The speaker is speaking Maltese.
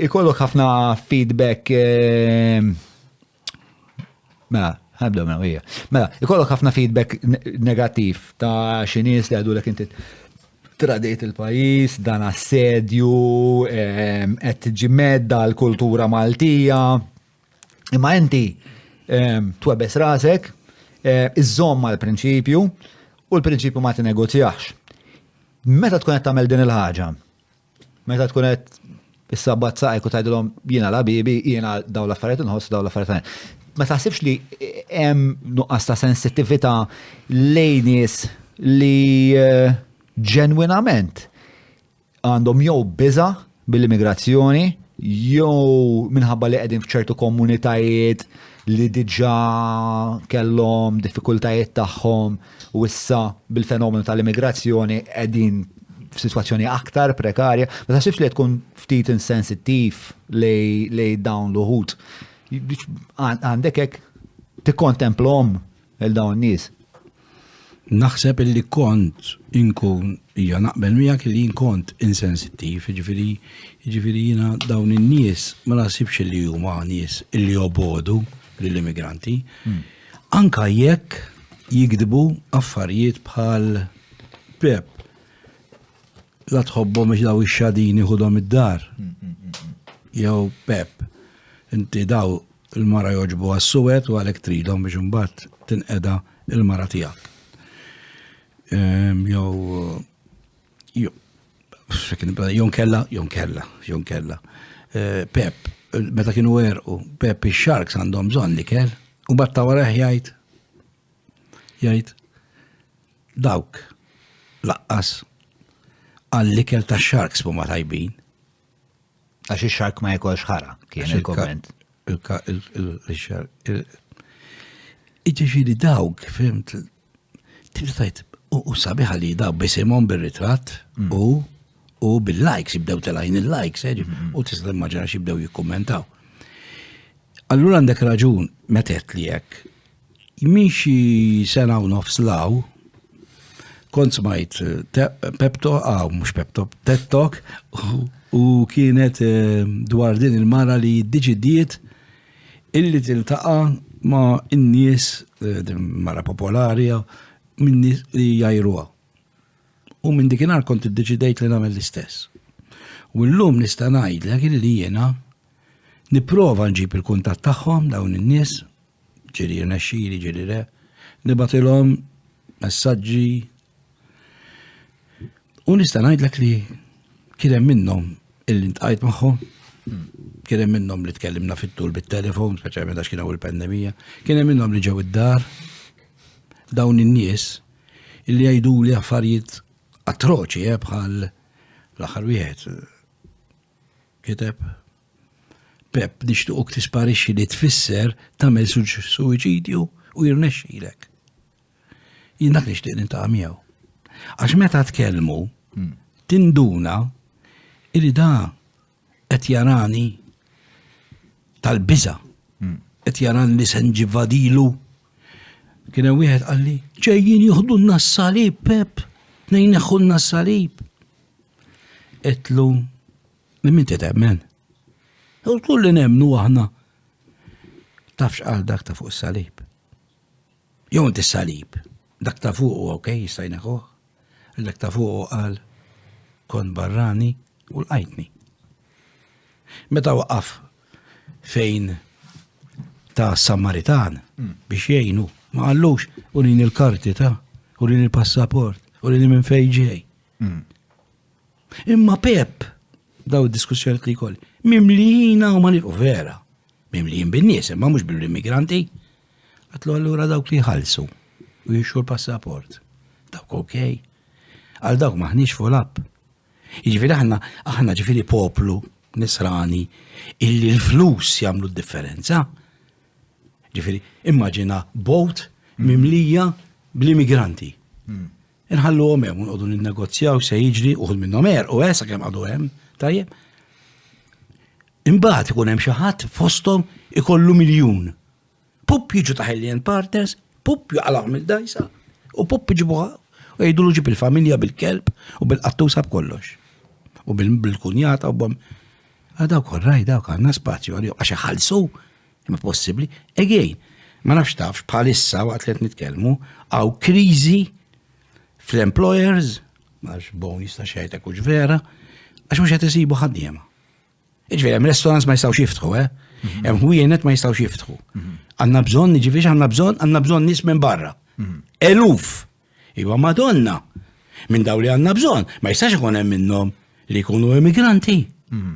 Ikollok ħafna feedback Mela, ħabda mela hija. Mela, ikollok ħafna feedback negattiv ta' xi nies li għadu l inti tradit il-pajis, dan assedju, ehm, qed ġimedda l-kultura Maltija. Imma inti ehm, twebes rasek, eh, iżżomm mal-prinċipju u l-prinċipju ma tinegozjax. Meta tkun qed tagħmel din il-ħaġa, Meta tkun qed is-sabbat saqek u tgħidilhom jiena la bibi, jiena daw l-affarijiet inħoss daw l-affarijiet Ma taħsibx li hemm nuqqas ta' sensittività lejn nies li eh, ġenwinament għandhom jew biża bil-immigrazzjoni jew minħabba li qegħdin f'ċertu komunitajiet li diġà kellhom diffikultajiet tagħhom u issa bil-fenomenu tal-immigrazzjoni qegħdin f'sitwazzjoni aktar prekarja, ma taħsibx li tkun ftit insensittiv lej dawn l-uħud. Għandek hekk tikkontemplhom il dawn nies. Naħseb illi kont inkun hija naqbel miegħek li kont insensittiv, jiġifieri jiġifieri jiena dawn in-nies ma naħsibx li huma nies illi obodu lill-immigranti. Hmm. Anke jekk jigdbu affarijiet bħal Pep la tħobbhom biex daw ix-xadini ħudhom id-dar. Jew Pep, inti daw il-mara joġbu għas-suwed u għalhekk tridhom biex imbagħad tinqeda il-mara tiegħek. Ehm, jew Jon kella, jon kella, jon kella. Eh, Pep, meta kienu erqu, Pep il-Sharks għandhom bżonn li kell, u batta waraħ jgħid, jgħid, dawk laqqas għalli kell ta' Sharks ma tajbin. Għax il-Shark ma jekolx ħara, kien il-komment. Il-Shark. Iġiġi li dawk, fimt, Tista' u sabiħa li daw bisimhom bir-ritratt mm. u u bil-likes jibdew telajn il-likes, eh, mm-hmm. u tista' immaġina jibdew jikkummentaw. Allura għandek raġun metet li jekk miexi sena u nofs law, kont smajt eh, pepto, għaw, mux pepto, tettok, u kienet eh, dwar din il-mara li diġidiet Illi tiltaqa' ma' n-nies mara popolari minn nies li jajruha. U minn dikinhar kont iddeċidejt li nagħmel l-istess. U llum nista' ngħidlek illi jiena nipprova nġib il-kuntatt tagħhom dawn in-nies, ġieli jirnexxili ġieli le, nibgħatilhom messaġġi U nista' ngħidlek li kien hemm minnhom illi ntqajt magħhom, kien hemm minnhom li tkellimna fit-tul bit-telefon, speċjalment għax kien hawn il-pandemija, kien hemm minnhom li ġew id-dar dawn in-nies illi jgħidu li affarijiet atroċi eh, bħal l-aħħar wieħed kiteb Pep nixtuqok tisparixxi li tfisser tagħmel suwiċidju u jirnexxilek. Jien dak nixtieq nintaqa' miegħu. Għax meta tkellmu, hmm. tinduna illi da qed jarani tal-biża. Hmm. Qed jaran li se nġivadilu. Kien hemm wieħed qalli, ġejjin jieħdu n-nassalib, Pep, nejn neħħu n-nassalib. Etlu, minn min titemmen? U kulli nemnu aħna. Tafx għal dak ta' fuq salib. Jew inti s-salib, dak ta' fuq u ok, jista' jneħħuh, dak ta' fuq u qal kon barrani u l-qajtni. Meta waqaf fejn ta' Samaritan hmm. biex jgħinu, ma qallux u lin il-karti ta' u lin il-passaport u lin minn fejn ġej. Hmm. Imma Pep, daw diskussjoni li jkolli, mimlijina u ma vera, mimlijin bin-nies, imma mhux bil-immigranti. Għatlu allura dawk li jħallsu u jixxu l-passaport. Dawk ok. Għal dawk maħniex full up. Jiġifieri aħna aħna ġifieri poplu nisrani illi l-flus jagħmlu d-differenza. Ġifieri immaġina bot mimlija bl-immigranti. Hmm. Inħalluhom hemm nqogħdu ninnegozjaw se jiġri uħud minnhom er u esa kemm għadu hemm, tajjeb. Imbagħad ikun hemm xi ħadd fosthom ikollu miljun. Pup jiġu ta' Hellion Partners, pup jaqalgħu mill-dajsa u pup iġibuha u jgħidulu ġib il-familja bil-kelb u bil-qattusa b'kollox. U bil-kunjata u bom. Għadaw korraj dawk għandna spazju għalihom għax iħallsu Imma possibbli, again, ma nafx tafx bħalissa waqt li qed nitkellmu għaw kriżi fl-employers, għax bon jista' xejtek hux vera, għax mhux qed isibu ħaddiema. Iġveri, hemm restaurants ma jistgħux jiftħu, eh? Mhm. Hemm ħwienet ma jistgħux jiftħu. Mhm. Għandna bżonn, jiġifieri għandna bżonn, għandna bżonn nies minn barra. Mhm. Eluf Iva Madonna, minn daw li għanna bżon, ma jistax ikun hemm minnhom li jkunu immigranti. Mm.